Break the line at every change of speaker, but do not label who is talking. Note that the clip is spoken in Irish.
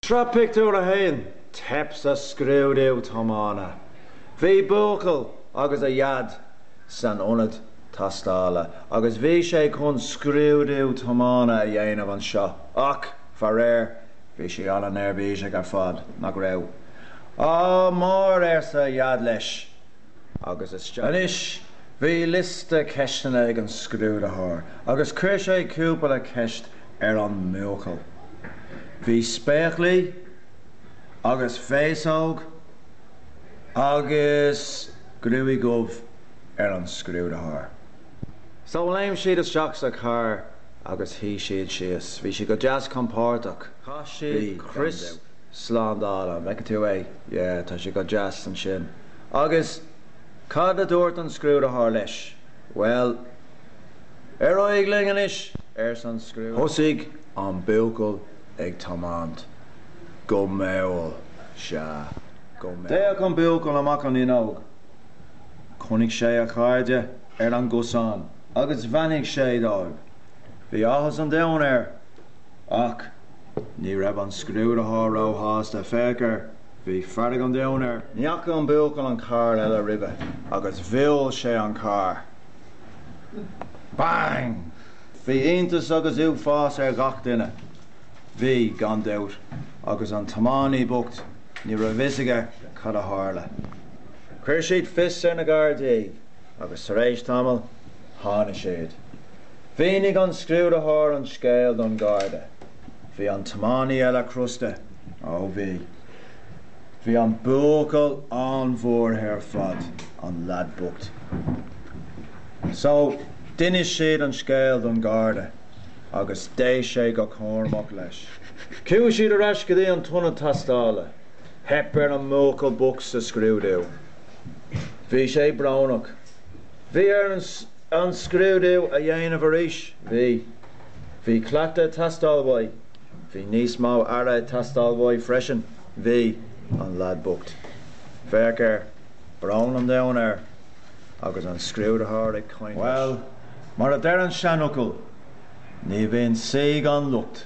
Sraith Pictiúr 1, Teip sa scrúdú tiomána. Bhí buachaill agus a dhaid san ionad tástála agus bhí sé chun scrúdú tiomána a dhéanamh anseo ach, faraor, bhí sé an-neirbhíseach ar fad, nach raibh? Ádh mór arsa a dhaid leis. agus is. Anois, bhí liosta ceisteanna ag an scrúdaitheoir agus chuir sé cúpla ceist ar an mbuachaill. Bhí spéaclaí agus féasóg agus gruaig dhubh ar an scrúdaitheoir. So, léim siad isteach sa charr agus shuigh siad síos. Bhí siad go deas compordach. Chaith siad crios slándála, an bhfeiceann tú é? Yeah, tá sé go deas ansin. Agus cad a dúirt an scrúdaitheoir leis? Bhuel, Ar aghaidh linn anois, arsa an scrúdaitheoir. Thosaigh an buachaill ag tiomáint. Go mall, sea. D'fhéach an buachaill amach an fhuinneog. Chonaic sé a chairde ar an gcosán agus bheannaigh sé dóibh. Bhí áthas an domhain air. Ach ní raibh an scrúdaitheoir róshásta. Féach air. Bhí fearg an domhain air. Ní fhaca an buachaill an carr eile roimhe agus bhuail sé an carr. Bang! Bhí iontas agus uafás ar gach duine. Bhí, gan dabht, agus an tiománaí bocht, ní raibh a fhios aige cad a tharla. Chuir siad fios ar na Gardaí agus tar éis tamaill, tháinig siad. Mhínigh an scrúdaitheoir an scéal don Gharda. Bhí an tiománaí eile crosta. Ó bhí. Bhí an buachaill an-bhuartha ar fad, an lad bocht. So, d'inis siad an scéal don Gharda agus d'éist sé go cúramach leis. Chuaigh siad ar ais go dtí an t-ionad tástála. Theip ar an mbuachaill bocht sa scrúdú. Bhí sé brónach. Bhí air an scrúdú a dhéanamh arís. Bhí. Bhí cleachtadh ag teastáil uaidh. Bhí níos mó aire ag teastáil uaidh freisin. Bhí, an lad bocht. Féach air. Brón an domhain air. Agus an scrúdaitheoir ag caint leis. Bhuel, mar a deir an seanfhocal, ní bhíonn saoi gan locht.